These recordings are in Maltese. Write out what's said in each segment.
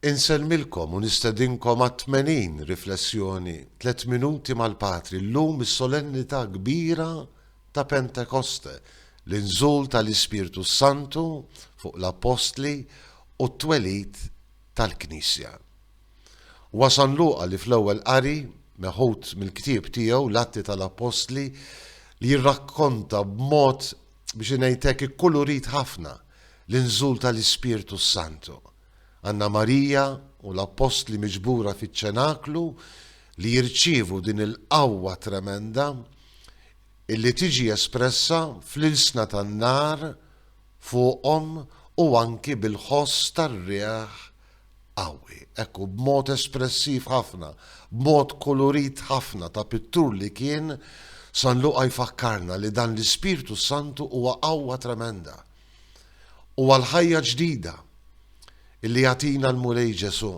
Insellmilkom u nistedinkom għat-80 riflessjoni Tliet Minuti mal-Patri llum is-Solennità Kbira ta' Pentekoste, l-inżul tal-Ispirtu s-Santu fuq l-Appostli u t-twelid tal-Knisja. Huwa San Luqa li fl-Ewwel Qari, meħud mill-ktieb tiegħu l-Atti tal-Appostli, li jirrakkonta b'mod biex ngħid hekk, ikkulurit ħafna l-inżul tal-Ispirtu s-Santu. Għandna Marija u l-Appostli miġbura fiċ-Ċenaklu li jirċievu din il-qawwa tremenda illi tiġi espressa fl-ilsna tan-nar fuqhom u anki bil-ħoss tar-riħ qawwi, hekk hu, b'mod espressiv ħafna, b'mod kulurit ħafna ta' pittur li kien, San Luqa jfakkarna li dan l-Ispirtu s-Santu huwa qawwa tremenda. Huwa l-ħajja ġdida illi jagħtina l-Mulej Ġesù.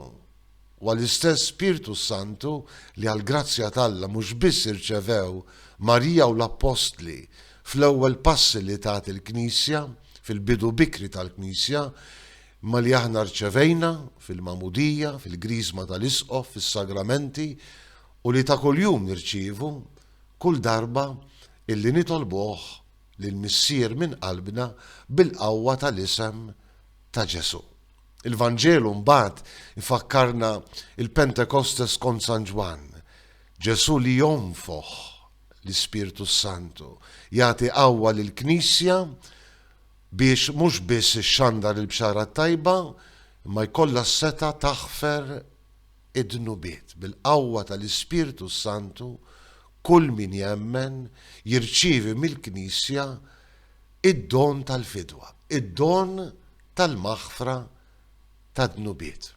Huwa l-istess Spirtu s-Santu li għall-grazzja t'Alla mhux biss irċevew Marija u l-Appostli fl-ewwel passi li tat il-Knisja, fil-bidu bikri tal-Knisja, Imma li aħna rċevejna, fil-Magħmudija, fil-Griżma tal-Isqof, fis-Sagramenti, u li ta' kuljum nirċievu, kull darba illi nitolbuh lill-Missier minn qalbna bil-qawwa tal-isem ta' Ġesù. Il-Vanġelu mbagħad ifakkarna l-Pentekostes skont San Ġwann, Ġesù li jonfoħ l-Ispirtu s-Santu, jagħti qawwa lill-Knisja biex mhux biss ixxandar il-Bxara t-Tajba imma jkollha s-setgħa taħfer id-dnubiet. Bil-qawwa tal-Ispirtu s-Santu kull min jemmen jirċievi mill-Knisja id-don tal-fidwa, id-don tal-maħfra tad-dnubiet.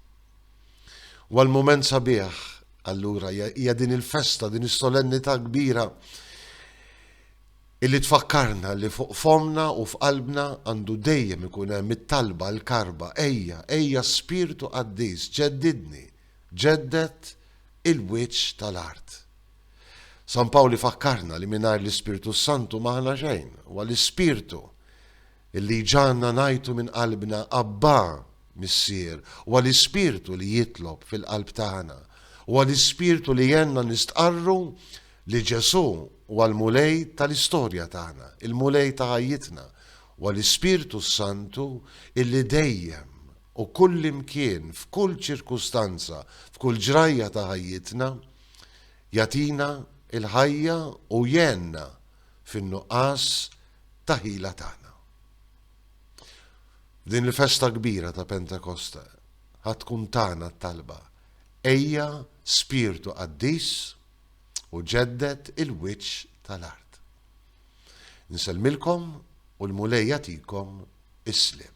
Huwa l-mument sabiħ allura, hija din il-festa, din is-solennità kbira Illi tfakkarna li fuq fommna u f'qalbna għandu dejjem ikun hemm it-talba, l-karba, Ejja, ejja Spirtu Qaddis, ġeddidni, ġedded il-wiċċ tal-art. San Pawl ifakkarna li mingħajr l-Ispirtu s-Santu m'aħna xejn. Huwa l-Ispirtu illi jġagħalna ngħajtu minn qalbna, Abbà, Missier. Huwa l-Ispirtu li jitlob fil-qalb tagħna. Huwa l-Ispirtu li jgħinna nistqarru li Ġesù huwa l-Mulej tal-istorja tagħna, il-Mulej ta' ħajjitna, huwa l-Ispirtu s-Santu illi dejjem u kullimkien f'kull ċirkustanza, f'kull ġrajja ta' ħajjitna, jagħtina l-ħajja u jgħenna fin-nuqqas ta' ħila tagħna. F'din il-festa kbira ta' Pentekosta ħadd tkun tagħna t-talba, Ejja Spirtu Qaddis, u ġedded il-wiċċ tal-art. Insellmilkom u l-Mulej jagħtikom is-sliem.